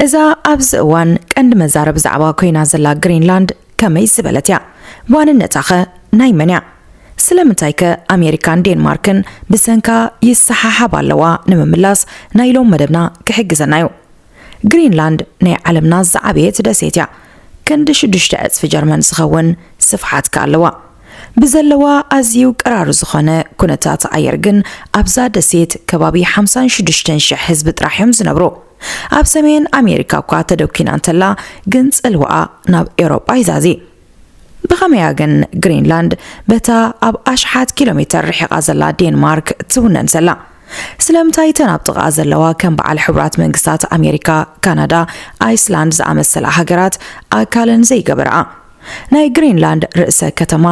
እዛ ኣብዚ እዋን ቀንዲ መዛረቢ ዛዕባ ኮይና ዘላ ግሪንላንድ ከመይ ዝበለት እያ? ዋንነታኸ ናይ መን እያ? ስለምንታይከ ኣሜሪካን ዴንማርክን ብሰንካ ይሰሓሓባ ኣለዋ ንምምላስ ናይ ሎም መደብና ክሕግዘና እዩ። ግሪንላንድ ናይ ዓለምና ዝዓበየት ደሴት እያ። ክንዲ ሽዱሽተ ዕጽፊ ጀርመን ዝኸውን ስፍሓት ከኣ ኣለዋ። ብዘለዋ ኣዝዩ ቀራሪ ዝኾነ ኩነታት ኣየር ግን ኣብዛ ደሴት ከባቢ ሓምሳን ሽዱሽተን ሽሕ ህዝቢ ጥራሕ እዮም ዝነብሩ። ኣብ ሰሜን ኣሜሪካ እኳ ተደኲና እንተላ ግን ጽልዋኣ ናብ ኤውሮጳ ይዛዚ። ብኸመያ ግን ግሪንላንድ በታ ኣብ ኣሽሓት ኪሎ ሜተር ርሒቓ ዘላ ዴንማርክ ትውነን ዘላ? ስለምንታይ እተን ኣብ ጥቓኣ ዘለዋ ከም በዓል ሕቡራት መንግስታት ኣሜሪካ፣ ካናዳ፣ ኣይስላንድ ዝኣመሰላ ሃገራት ኣካለን ዘይገበርኣ? ናይ ግሪንላንድ ርእሰ ከተማ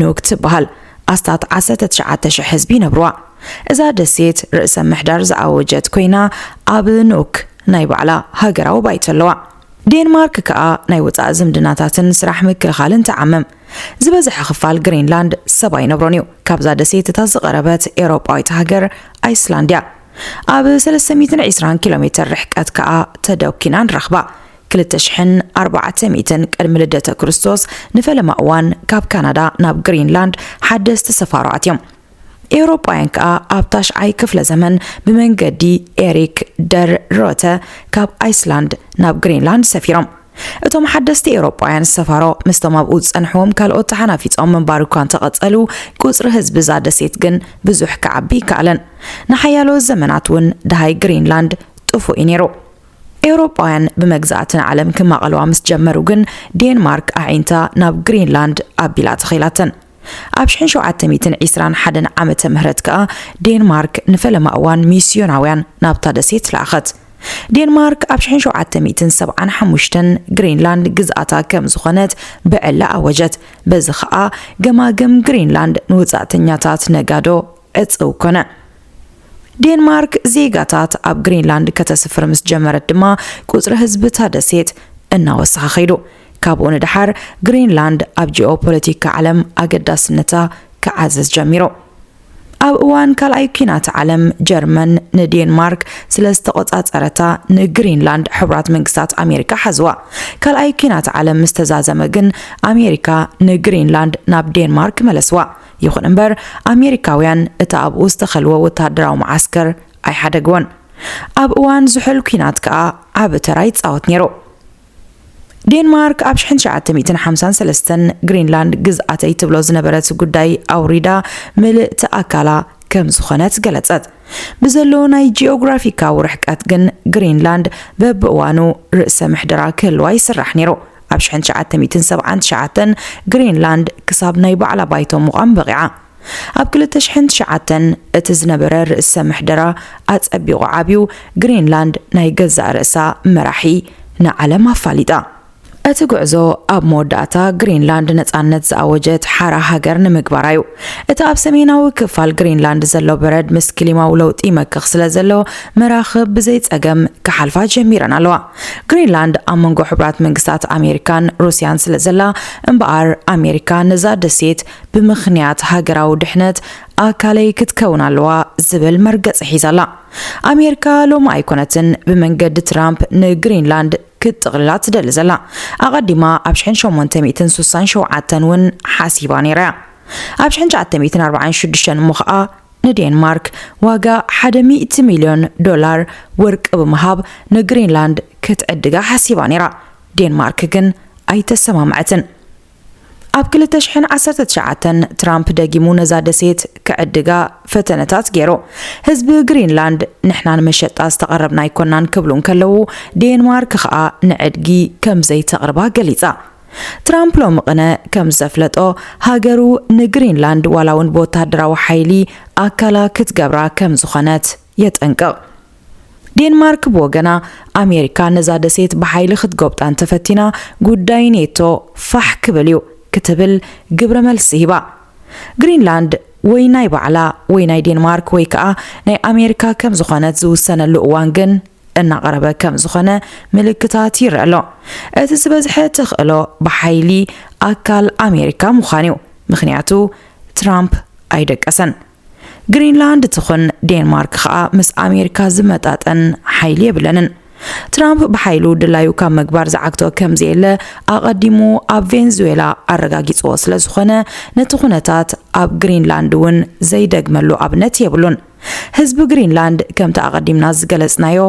ኑግ ትበሃል ኣስታት ዓሰርተ ትሽዓተ ሽሕ ህዝቢ ይነብርዋ። እዛ ደሴት ርእሰ ምሕዳር ዝኣወጀት ኮይና ኣብ ኑክ ናይ ባዕላ ሃገራዊ ባይቶ ኣለዋ። ዴንማርክ ከኣ ናይ ወጻኢ ዝምድናታትን ስራሕ ምክልኻልን ትዓምም። ዝበዝሐ ክፋል ግሪንላንድ ሰብ ኣይነብሮን እዩ። ካብዛ ደሴት እታ ዝቐረበት ኤውሮጳዊት ሃገር ኣይስላንድ እያ። ኣብ ሰለስተ ሚእትን ዒስራን ኪሎሜተር ርሕቀት ከኣ ተደኲና ንረኽባ። ክልተ ሽሕን ኣርባዕተ ሚእትን ቅድሚ ልደተ ክርስቶስ ንፈለማ እዋን ካብ ካናዳ ናብ ግሪንላንድ ሓደስቲ ሰፋሮ ኣትዮም። ኤውሮጳውያን ከኣ ኣብ ታሽዓይ ክፍለ ዘመን ብመንገዲ ኤሪክ ደር ሮተ ካብ ኣይስላንድ ናብ ግሪንላንድ ሰፊሮም። እቶም ሓደስቲ ኤውሮጳውያን ሰፋሮ ምስቶም ኣብኡ ዝጸንሕዎም ካልኦት ተሓናፊጾም ምንባር እኳ እንተቐጸሉ ቁጽሪ ህዝቢ እዛ ደሴት ግን ብዙሕ ክዓቢ ኣይከኣለን። ንሓያሎ ዘመናት እውን ደሃይ ግሪንላንድ ጥፉእ እዩ ነይሩ። ኤውሮጳውያን ብመግዛእቲ ንዓለም ክማቐልዋ ምስ ጀመሩ ግን ዴንማርክ ኣዒንታ ናብ ግሪንላንድ ኣቢላ ተኺላተን። ኣብ ሽሕን ሸውዓተ ሚእትን ዒስራን ሓደን ዓመተ ምህረት ከኣ ዴንማርክ ንፈለማ እዋን ሚስዮናውያን ናብታ ደሴት ለኣኸት። ዴንማርክ ኣብ ሽሕን ሸውዓተ ሚእትን ሰብዓን ሓሙሽተን ግሪንላንድ ግዝኣታ ከም ዝኾነት ብዕሊ ኣወጀት። በዚ ከኣ ገማግም ግሪንላንድ ንወጻእተኛታት ነጋዶ፣ ዕጽው ኮነ። ዴንማርክ ዜጋታት ኣብ ግሪንላንድ ከተስፍር ምስ ጀመረት ድማ ቁጽሪ ህዝቢ እታ ደሴት እናወሰኸ ከይዱ። ካብኡ ንደሓር ግሪንላንድ ኣብ ጂኦፖለቲካ ዓለም ኣገዳስነታ ክዓዝዝ ጀሚሩ። ኣብ እዋን ካልኣይ ኲናት ዓለም ጀርመን ንዴንማርክ ስለ ዝተቖጻጸረታ ንግሪንላንድ ሕቡራት መንግስታት ኣሜሪካ ሓዝዋ። ካልኣይ ኲናት ዓለም ምስ ተዛዘመ ግን ኣሜሪካ ንግሪንላንድ ናብ ዴንማርክ መለስዋ። ይኹን እምበር ኣሜሪካውያን እቲ ኣብኡ ዝተኸልወ ወተሃደራዊ መዓስከር ኣይሓደግዎን። ኣብ እዋን ዝሑል ኲናት ከኣ ዓቢ ተራ ይጻወት ነይሩ። ዴንማርክ ኣብ ሽሕን ትሽዓተ ሚእትን ሓምሳን ሰለስተን ግሪንላንድ ግዝኣተይ ትብሎ ዝነበረት ጉዳይ ኣውሪዳ ምልእቲ ኣካላ ከም ዝኾነት ገለጸት። ብዘሎ ናይ ጂኦግራፊካዊ ርሕቀት ግን ግሪንላንድ በብእዋኑ ርእሰ ምሕደራ ክህልዋ ይስራሕ ነይሩ። ኣብ ሽሕን ትሽዓተ ሚእትን ሰብዓን ትሽዓተን ግሪንላንድ ክሳብ ናይ ባዕላ ባይቶ ምቛም በቒዓ። ኣብ ክልተ ሽሕን ትሽዓተን እቲ ዝነበረ ርእሰ ምሕደራ ኣጸቢቑ ዓብዩ፣ ግሪንላንድ ናይ ገዛእ ርእሳ መራሒ ንዓለም ኣፋሊጣ። እቲ ጉዕዞ ኣብ መወዳእታ ግሪንላንድ ነጻነት ዝኣወጀት ሓራ ሃገር ንምግባራ እዩ። እቲ ኣብ ሰሜናዊ ክፋል ግሪንላንድ ዘሎ በረድ ምስ ክሊማዊ ለውጢ ይመክኽ ስለዘሎ መራኽብ ብዘይ ጸገም ክሓልፋ ጀሚረን ኣለዋ። ግሪንላንድ ኣብ መንጎ ሕቡራት መንግስታት ኣሜሪካን ሩስያን ስለ ዘላ እምበኣር ኣሜሪካ ነዛ ደሴት ብምኽንያት ሃገራዊ ድሕነት ኣካለይ ክትከውን ኣለዋ ዝብል መርገፂ ሒዛ ኣላ። ኣሜሪካ ሎሚ ኣይኮነትን ብመንገዲ ትራምፕ ንግሪንላንድ ክትጥቕልላ ትደሊ ዘላ። ኣቐዲማ ኣብ ሽሕን ሸሞንተ ሚእትን ሱሳን ሸውዓተን እውን ሓሲባ ነይራ እያ። ኣብ ሽሕን ትሽዓተ ሚእትን ኣርባዓን ሽዱሽተን እሞ ኸኣ ንዴንማርክ ዋጋ ሓደ ሚእቲ ሚልዮን ዶላር ወርቂ ብምሃብ ንግሪንላንድ ክትዕድጋ ሓሲባ ነይራ፣ ዴንማርክ ግን ኣይተሰማምዐትን። ኣብ ክልተ ሽሕን ዓሰርተ ትሽዓተን ትራምፕ ደጊሙ ነዛ ደሴት ክዕድጋ ፈተነታት ገይሩ። ህዝቢ ግሪንላንድ ንሕና ንመሸጣ ዝተቐረብና ኣይኮናን ክብሉ እንከለዉ፣ ዴንማርክ ከኣ ንዕድጊ ከምዘይተቕርባ ገሊጻ። ትራምፕ ሎሚ ቕነ ከም ዘፍለጦ፣ ሃገሩ ንግሪንላንድ ዋላ ውን ብወተሃደራዊ ሓይሊ ኣካላ ክትገብራ ከም ዝኾነት የጠንቅቕ። ዴንማርክ ብወገና፣ ኣሜሪካ ነዛ ደሴት ብሓይሊ ክትጎብጣ እንተፈቲና ጉዳይ ኔቶ ፋሕ ክብል እዩ ክትብል ግብረ መልሲ ሂባ። ግሪንላንድ ወይ ናይ ባዕላ ወይ ናይ ዴንማርክ ወይ ከኣ ናይ ኣሜሪካ ከም ዝኾነት ዝውሰነሉ እዋን ግን፣ እናቐረበ ከም ዝኾነ ምልክታት ይረኣ ኣሎ። እቲ ዝበዝሐ ተኽእሎ ብሓይሊ ኣካል ኣሜሪካ ምዃን'ዩ፣ ምኽንያቱ ትራምፕ ኣይደቀሰን። ግሪንላንድ ትኹን ዴንማርክ ኸኣ ምስ ኣሜሪካ ዝመጣጠን ሓይሊ የብለንን። ትራምፕ ብሓይሉ ድላዩ ካብ ምግባር ዝዓግቶ ከም ዘየለ ኣቐዲሙ ኣብ ቬንዙዌላ ኣረጋጊጽዎ ስለ ዝኾነ፣ ነቲ ኩነታት ኣብ ግሪንላንድ እውን ዘይደግመሉ ኣብነት የብሉን። ህዝቢ ግሪንላንድ ከምቲ ኣቐዲምና ዝገለጽናዮ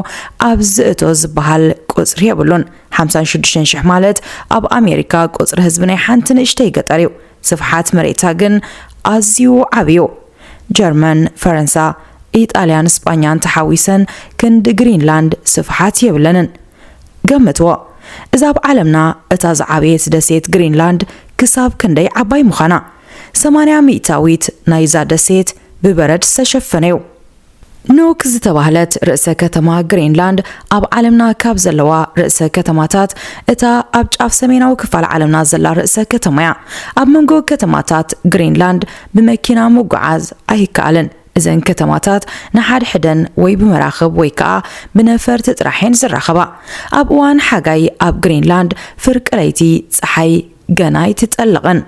ኣብዚ ዝእቶ ዝበሃል ቁጽሪ የብሉን። ሓምሳን ሽዱሽተን ሽሕ ማለት ኣብ ኣሜሪካ ቁጽሪ ህዝቢ ናይ ሓንቲ ንእሽተይ ገጠር እዩ። ስፍሓት መሬታ ግን ኣዝዩ ዓቢ እዩ። ጀርመን፣ ፈረንሳ፣ ኢጣልያን ስጳኛን ተሓዊሰን ክንዲ ግሪንላንድ ስፍሓት የብለንን። ገምትዎ፣ እዛ ኣብ ዓለምና እታ ዝዓበየት ደሴት ግሪንላንድ ክሳብ ክንደይ ዓባይ ምዃና? ሰማንያ ሚእታዊት ናይዛ ደሴት ብበረድ ዝተሸፈነ'ዩ። ኑክ ዝተባህለት ርእሰ ከተማ ግሪንላንድ ኣብ ዓለምና ካብ ዘለዋ ርእሰ ከተማታት እታ ኣብ ጫፍ ሰሜናዊ ክፋል ዓለምና ዘላ ርእሰ ከተማ'ያ። ኣብ መንጎ ከተማታት ግሪንላንድ ብመኪና ምጉዓዝ ኣይከኣልን። እዘን ከተማታት ንሓድሕደን ወይ ብመራኽብ ወይ ከኣ ብነፈርቲ ጥራሕ'የን ዝራኸባ። ኣብ እዋን ሓጋይ ኣብ ግሪንላንድ ፍርቂ ለይቲ ጸሓይ ገና ኣይትጠልቕን።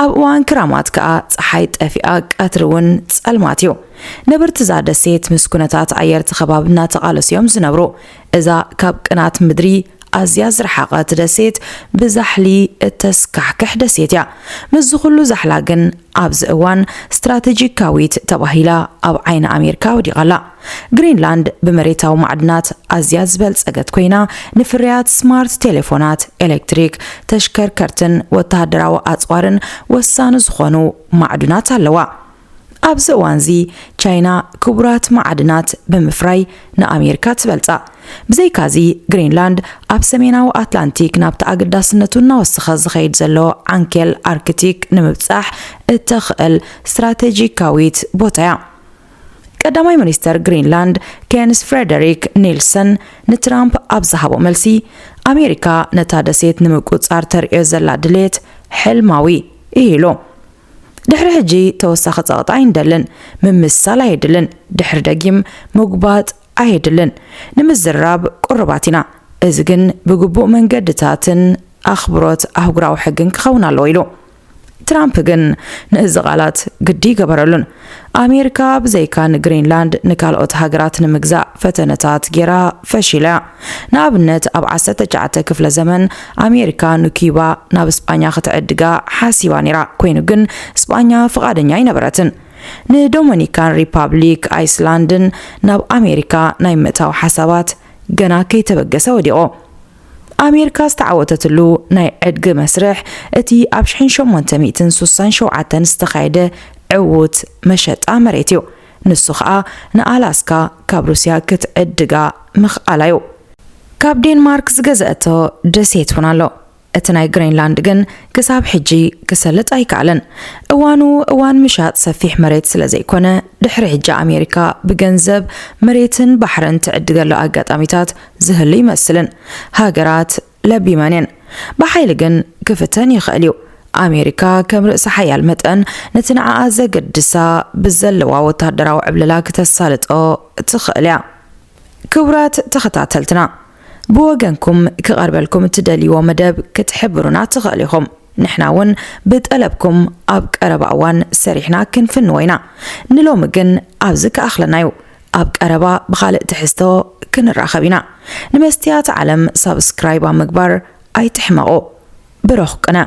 ኣብ እዋን ክራማት ከኣ ጸሓይ ጠፊኣ ቀትሪ ውን ጸልማት እዩ። ነበርቲ እዛ ደሴት ምስ ኩነታት ኣየር'ቲ ከባቢ እናተቓለሱ እዮም ዝነብሩ። እዛ ካብ ቅናት ምድሪ ኣዝያ ዝረሓቐት ደሴት ብዛሕሊ እተስካሕክሕ ደሴት እያ። ምስዚ ኩሉ ዛሕላ ግን ኣብዚ እዋን ስትራተጂካዊት ተባሂላ ኣብ ዓይኒ ኣሜርካ ወዲቓ ኣላ። ግሪንላንድ ብመሬታዊ ማዕድናት ኣዝያ ዝበልጸገት ኮይና፣ ንፍርያት ስማርት ቴሌፎናት፣ ኤሌክትሪክ ተሽከርከርትን ወተሃደራዊ ኣጽዋርን ወሳኒ ዝዀኑ ማዕዱናት ኣለዋ። ኣብዚ እዋንዚ ቻይና ክቡራት ማዕድናት ብምፍራይ ንኣሜሪካ ትበልጻ። ብዘይካዚ፣ ግሪንላንድ ኣብ ሰሜናዊ ኣትላንቲክ ናብቲ ኣገዳስነቱ እናወሰኸ ዝኸይድ ዘሎ ዓንኬል ኣርክቲክ ንምብጻሕ እተኽእል ስትራተጂካዊት ቦታ'ያ። ቀዳማይ ሚኒስተር ግሪንላንድ ኬንስ ፍሬደሪክ ኒልሰን ንትራምፕ ኣብ ዝሃቦ መልሲ፣ ኣሜሪካ ነታ ደሴት ንምቁጽጻር ተርእዮ ዘላ ድሌት ሕልማዊ እዩ ኢሉ። ድሕሪ ሕጂ ተወሳኺ ጸቕጢ ኣይንደልን፣ ምምስሳል ኣየድልን፣ ድሕሪ ደጊም ምጉባጥ ኣየድልን፣ ንምዝርራብ ቅሩባት ኢና፣ እዚ ግን ብግቡእ መንገድታትን ኣኽብሮት ኣህጉራዊ ሕግን ክኸውን ኣለዎ ኢሉ። ትራምፕ ግን ንእዚ ቓላት ግዲ ገበረሉን። ኣሜሪካ ብዘይካ ንግሪንላንድ ንካልኦት ሃገራት ንምግዛእ ፈተነታት ጌራ ፈሺላ እያ። ንኣብነት ኣብ ዓሰርተ ትሽዓተ ክፍለ ዘመን ኣሜሪካ ንኩዩባ ናብ ስጳኛ ክትዕድጋ ሓሲባ ኔራ ኮይኑ ግን ስጳኛ ፍቓደኛ ኣይነበረትን። ንዶመኒካን ሪፓብሊክ ኣይስላንድን ናብ ኣሜሪካ ናይ ምእታው ሓሳባት ገና ከይተበገሰ ወዲቑ። ኣሜሪካ ዝተዓወተትሉ ናይ ዕድጊ መስርሕ እቲ ኣብ ሽሕን ሸሞንተ ሚእትን ሱሳን ሸውዓተን ዝተኻየደ ዕዉት መሸጣ መሬት እዩ። ንሱ ኸኣ ንኣላስካ ካብ ሩስያ ክትዕድጋ ምኽኣላ እዩ። ካብ ዴንማርክ ዝገዘኣቶ ደሴት እውን ኣሎ። እቲ ናይ ግሬንላንድ ግን ክሳብ ሕጂ ክሰልጥ ኣይከኣለን። እዋኑ እዋን ምሻጥ ሰፊሕ መሬት ስለ ዘይኮነ፣ ድሕሪ ሕጂ ኣሜሪካ ብገንዘብ መሬትን ባሕርን ትዕድገሉ ኣጋጣሚታት ዝህሉ ይመስልን ሃገራት ለቢመን እየን ብሓይሊ ግን ክፍተን ይኽእል እዩ። ኣሜሪካ ከም ርእሰ ሓያል መጠን ነቲ ንዓኣ ዘገድሳ ብዘለዋ ወተሃደራዊ ዕብለላ ክተሳልጦ ትኽእል እያ። ክቡራት ተኸታተልትና ብወገንኩም ክቐርበልኩም እትደልይዎ መደብ ክትሕብሩና ትኽእሉ ኢኹም። ንሕና እውን ብጠለብኩም ኣብ ቀረባ እዋን ሰሪሕና ክንፍንዎ ኢና። ንሎሚ ግን ኣብዚ ክኣኽለና እዩ። ኣብ ቀረባ ብኻልእ ትሕዝቶ ክንራኸብ ኢና ንመስትያት ዓለም ሳብስክራይብ ኣብ ምግባር ኣይትሕመቑ ብሩኽ ቅነ።